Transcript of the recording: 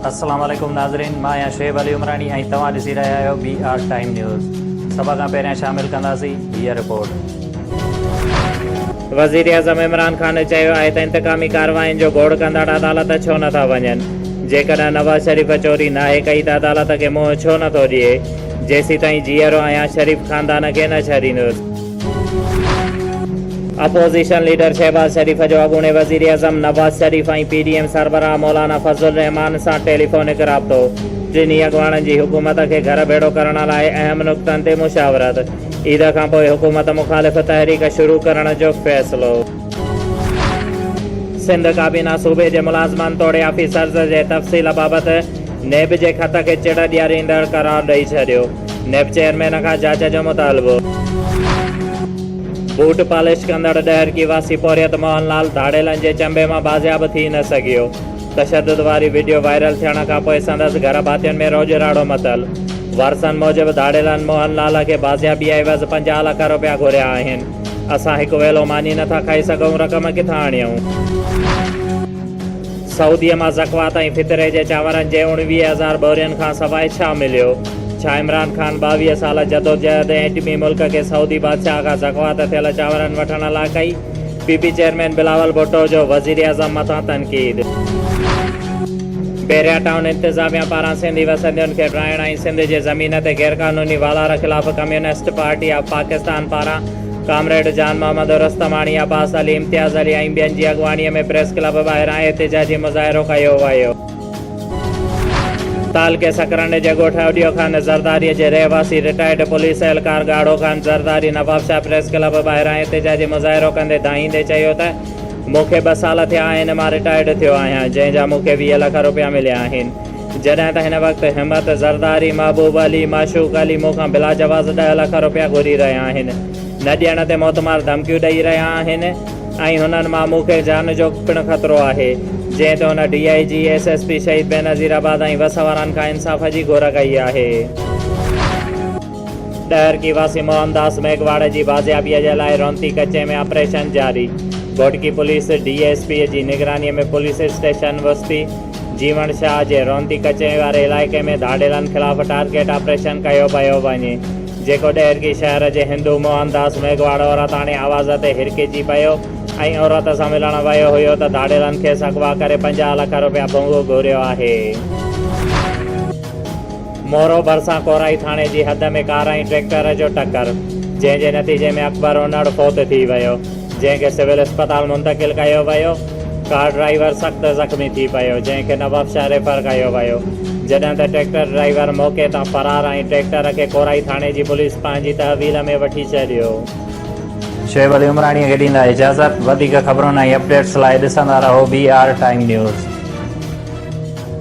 السلام عليڪم ناظرين مان آهيان شعيب علي عمراڻي ۽ توهان ڏسي رهيا آهيو بي آر ٽائيم نيوز سڀ کان پهريان شامل ڪنداسين هيء رپورٽ. وزيراعظم عمران خان چيو آهي ته انتقامي ڪاررواين جو گوڙ ڪندڙ عدالت ڇو نه ٿا وڃن، جيڪڏهن نواز شريف چوري ناهي ڪئي ته عدالت کي منهن ڇو نه ٿو ڏئي، جيسيتائين جيئرو آهيان شريف خاندان کي نه ڇڏيندس. اپوزيشن ليڊر شهباز شريف جو اڳوڻي وزيراعظم Nawaz Sharif ۽ P D M سربراهه مولانا فضل الرحمان سان ٽيليفونڪ رابطو، ٽنهي اڳواڻن جي حڪومت کي گهر ڀيڙو ڪرڻ لاء اهم نقطن تي مشاورت، عيد کانپوء حڪومت مخالف تحريڪ شروع ڪرڻ جو فيصلو. سنڌ ڪابينا صوبي جي ملازمن توڙي آفيسرز جي تفصيل بابت نيب جي خط کي چڙ ڏياريندڙ قرار ڏئي ڇڏيو. نيب چيئرمين کان جاچ جو مطالبو. بوٽ پالش ڪندڙ ڏهرڪي واسي پورهيت موهن لال ڌاڙيلن جي چنبي مان بازياب ٿي نه سگهيو، تشدد واري وڊيو وائرل ٿيڻ کانپوء سندس گهر ڀاتين ۾ روڄراڙو متل، وارثن موجب ڌاڙيلن موهن لال کي بازيابي عيوض پنجاهه لک روپيا گهريا آهن، اسان هڪ ويلو ماني نٿا کائي سگهون رقم ڪٿان آڻيون. سعوديء مان زڪوات ۽ فطري جي چانورن جي اڻويهه هزار ٻورين کان سواء ڇا مليو؟ ڇا عمران خان ٻاويهه سال جدوجهد ۽ ايٽمي ملڪ کي سعودي بادشاهه کان زڪوات ٿيل چانورن وٺڻ لا ڪئي؟ P P chairman Bilawal Bhutto جو وزيراعظم مٿان تنقيد. بحريا ٽائون انتظاميا پاران سنڌي وسندين کي ڊاهڻ ۽ سنڌ جي زمين تي غيرقانوني والار خلاف ڪميونسٽ پارٽي آف پاڪستان پاران ڪامريڊ جان محمد او رستماڻي، عباس علي، امتياز علي ۽ ٻين جي اڳواڻيء ۾ پريس ڪلب ٻاهران احتجاجي مظاهرو ڪيو ويو. تعلقي سڪرنڊ جي ڳوٺ اڏيو خان زرداريء جي رهواسي رٽائرڊ پوليس اهلڪار ڳاڙهو خان زرداري نوابشاهه پريس ڪلب ٻاهران احتجاجي مظاهرو ڪندي دانهيندي چيو ته مون کي ٻه سال ٿيا آهن مان رٽائرڊ ٿيو آهيان جنهن جا مون کي ويهه لک رپيا مليا آهن جڏهن ته هن وقت همت زرداري، محبوب علي، معشوق علي مون کان بلا جواز ڏهه لک روپيا گهري رهيا آهن. نه ڏيڻ تي موتمار ڌمڪيون ڏئي رهيا آهن ۽ هنن مان مون کي جان جو پڻ خطرو آهي. جنهن تي هن D I G, S S P Shaheed Benazir آباد ۽ وس وارن کان انصاف جي گهر ڪئي آهي. ڏهرڪي واسي موهن داس ميگهواڙ جي بازيابي جي لاء رونتي ڪچي ۾ آپريشن جاري، Ghotki police D S P جي نگراني ۾ پوليس اسٽيشن وستي، جيوڻ شاهه جي رونتي ڪچهري واري علائقي ۾ ڌاڙيلن خلاف ٽارگيٽ آپريشن ڪيو پيو وڃي، جيڪو ڏيهرڪي شهر جي هندو موهن داس ميگهواڙ عورتاڻي آواز تي هرکجي پيو ۽ عورت سان ملڻ ويو هيو ته ڌاڙيلن کيس اغوا ڪري پنجاهه لک رپيا ڀونگو گهريو آهي. مورو ڀرسان ڪورائي ٿاڻي جي حد ۾ ڪار ۽ ٽريڪٽر جو ٽڪر، جنهن جي نتيجي ۾ اڪبر اونڙ فوت ٿي ويو، جنهن کي سول اسپتال منتقل ڪيو ويو، ڪار ڊرائيور سخت زخمي ٿي پيو، جنهن کي نوابشاهه ريفر ڪيو ويو، جڏهن ته ٽريڪٽر ڊرائيور موقعي تان فرار ۽ ٽريڪٽر کي ڪورائي ٿاڻي جي پوليس پنهنجي تحويل ۾ وٺي ڇڏيو. شعيب علي عمراڻيء کي ڏيندا اجازت. وڌيڪ خبرن ۽ اپڊيٽس لاء ڏسندا رهو بي آر ٽائيم نيوز.